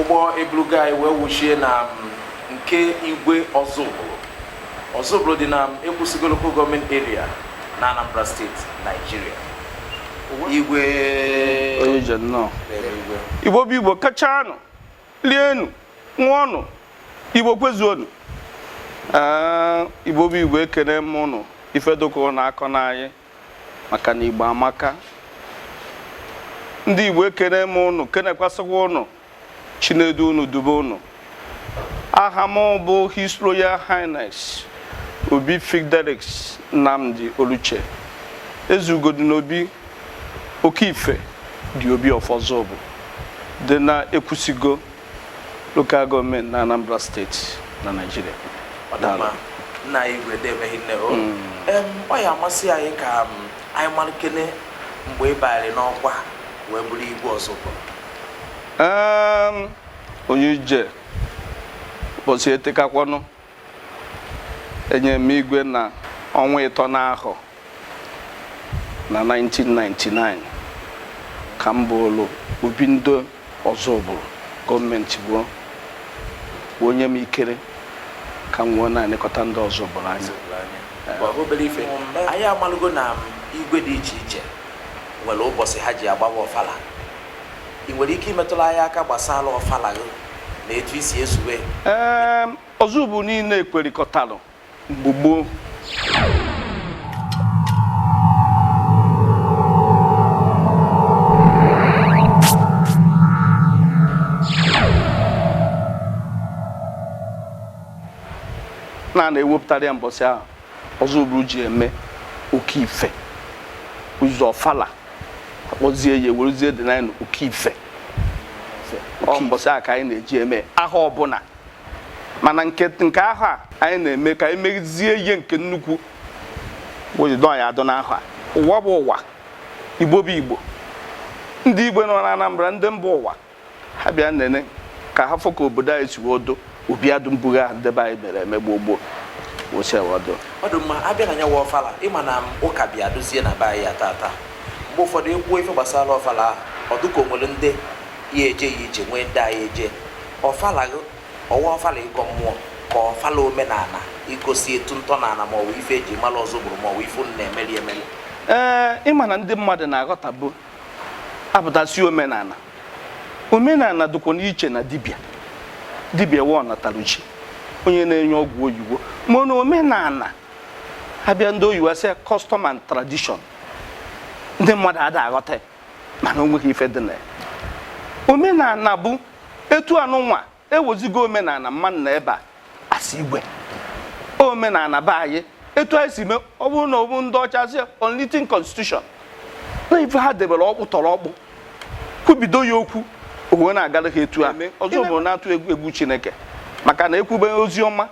ụgbọ eburugo anyị wee wuchie na nke igwe Ozubulu Ozubulu dị na ekwusigo local gọọmenti eria na anambra steeti naijiria igwe onye ije nnọọ igwe igbo bụ igbo kachanụ lienụ ṅụọnụ igbo kwezuonụ Ee, igbo bụ igbo ekene m ụnụ ife dịka ụnụ akọna anyị maka na Igbo amaka ndị Igbo ekene m ụnụ kenekwasịkwa ụnụ Chi na-edu ụnụ dube ụnụ aha m bụ His Royal Highness Obi Fidelis Nnamdi Oluche Ezeugodịn'obi oke ife the Obi of Ozubulu dị na ekwusigo lokal gọọmenti na Anambra steeti na Naịjirịa nna anyị igwe deeme rinne o ọ ya amasị anyị ka anyị malụkene mgbe ị banyere n'ọkwa wee bụrụ igwe Ozubulu onye ije ụbọchị etekakwanụ enyere m igwe na ọnwa ịtọ n'ahọ 1999 ka m bụrụ obi ndị Ozubulu gọọmenti wee nye m ikere ka m wee na-elekọta ndị Ozubulu anya obere ife anyị amalụgo na igwe dị iche iche nwere ụbọchị ha ji agbawa ọfala ị nwere ike imetụrụ anyị aka gbasara ọfala gị na etu i si ezube ya? Ee, Ozubulu niile ekwerikọtalụ mgbe gboo na a na-ewepụtara ya mbọsị ahụ Ozubulu ji eme oke ife eze ọfala akpọzie ya ewerezie dị na ime oke ife ọ mbọsị a ka anyị na-eji eme ahọ ọbụla mana nke nke ahọ a anyị na-eme ka anyị mezie ya nke nnukwu wee jido ya adọ n'ahọ a ụwa bụ ụwa igbo bụ igbo ndị igbo nọ na anambra ndị mba ụwa ha bịa nene ka ha fụ ka obodo anyị si odo obi adụ mbụ ahụ ndị be anyị mere eme gboo gboo osewodo ọ dị mma abịa na nyawa ọfala ị ma na ụka bịadụzie na be anyị ya tata mgbe ụfọdụ ekwuo ife gbasara ọfala ahụ ọ dị ka o nwere ndị ya eje ya ije nwee ndị ayị eje ọfala ọ wụ ọfala ịgọ mmụọ ka ọfala omenala igosi etu ntọnala maọbụ ife eji mara Ozubulu maọbụ ife na-emeli emeli ee ị ma na ndị mmadụ na-aghọtabu a pụta sị omenala omenala dịkwanụ iche na dibịa dibịa wụ ọ natara chi onye na-enye ọgwụ oyibo mana omenala abịa ndị oyibo asị custom and tradition ndị mmadụ ada aghọta mana o nweghị ife dị na ya omenala bụ etu anụnwa ewezuga omenala mmadụ na ebe a asị igwe omenala be anyị etu anyị si mee ọ bụrụ na ọ bụ ndị ọcha sị unwritten constitution na ife ha debere ọkpụtọrọkpụ kwubido ya okwu o wee na-agara ha etu a ọzọ bụ na-atụ egwu egwu chineke maka na ekwube ozi ọma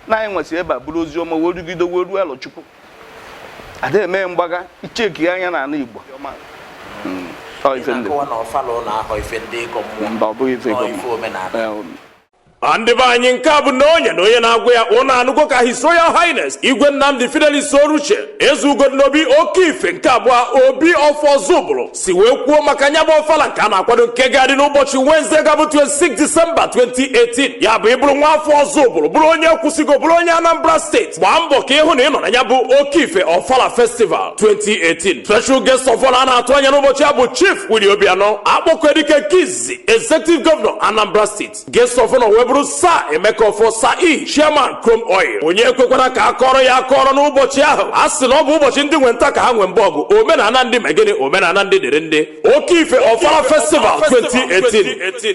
na anyị wee si ebe a buru ozi ọma wee rugide wee ruo Arọchukwu ada eme mgbagha icheki anya na ala igbo hmm. Ah, ndị be anyị nke a bụ na onye na onye na-agwa ya unu anụgo ka His Royal Highness Igwe Nnamdi Fidelis Oruche Eze Ugodinobi Okeife nke abụọ Obi of Ozubulu si wee kwuo maka nya bụ ọfala nke a na-akwado nke ga-adị n'ụbọchị Wednesday ga-abụ 26 Disemba 2018 ya bụ ị bụrụ nwa afọ Ozubulu bụrụ onye Ekwusigo bụrụ onye Anambra steeti gbaa mbọ ka ị hụ na ị nọ na ya bụ Okeife ọfala festival 2018 special guest of honor a na-atụ anya n'ụbọchị ya bụ Chief Willie Obianọ Akpọkuedike nke izizi executive governor Anambra steeti Guest of honor wee bụrụ Sir Emeka Offor Sir E Chairman Chrome Oil onye ekwekwala ka a kọọrọ ya akọọrọ n'ụbọchị ahụ a sị na ọ bụ ụbọchị ndị nwe nta ka ha nwe mba ọgụ omenala ndị mee gịnị omenala ndị dịrị ndị Okeife Ofala Festival 2018